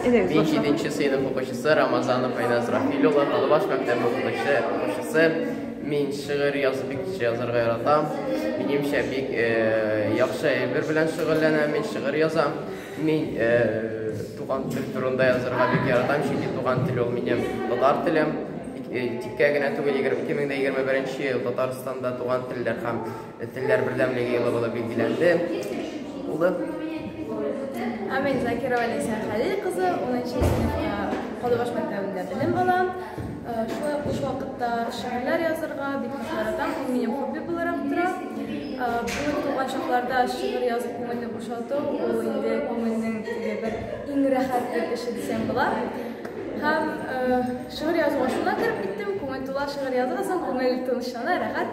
Бенчи Бенчи сыйныф укучысы Рамазан Файназ Рафиль улы Талбаш мәктәбе укучысы укучысы Мин шигырь язып бик кеше язарга яратам. Минемчә бик э, яхшы әйбер белән шөгыльләнәм. Мин шигырь язам. Мин э, туган тел турында язарга бик яратам, чөнки туган тел ул минем татар телем. Э, Тиккә генә түгел, 2021 елда Татарстанда туган телдә һәм Телләр бердәмлеге елы булып билгеләнде. Улы. Амин Закирова Ләйсә Хәлил кызы 10 сыйныфта Калыбаш мәктәбендә белем ала. Шулай ук буш вакытта шигырьләр язырга бик ярата, ул минем хобби буларак тора. Бүген туган чакларда шигырь язып күңелне бушату, ул инде күңелнең бер иң рәхәт бер эше дисәм була. Һәм шигырь язуга шуннан кереп киттем, күңел тула шигырь язасың, күңел тынычлана, рәхәт.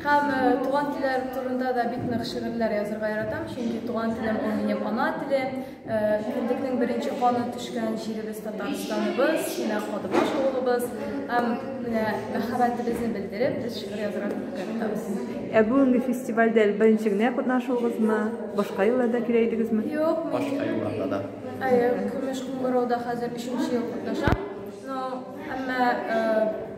Һәм туган телләр турында да бик нык шигырьләр язырга яратам, чөнки туган телем ул минем ана телем. Кендекнең беренче каны төшкән җиребез Татарстаныбыз, менә Кадыбаш авылыбыз. Һәм менә мәхәббәтебезне белдереп, без шигырь язырга киттек. Ә бүгенге фестивальдә беренче генә катнашуыгызмы? Башка елларда килә идегезме? Юк, башка елларда да. Әйе, Көмеш Куңгырауда хәзер өченче ел катнашам. Но әмма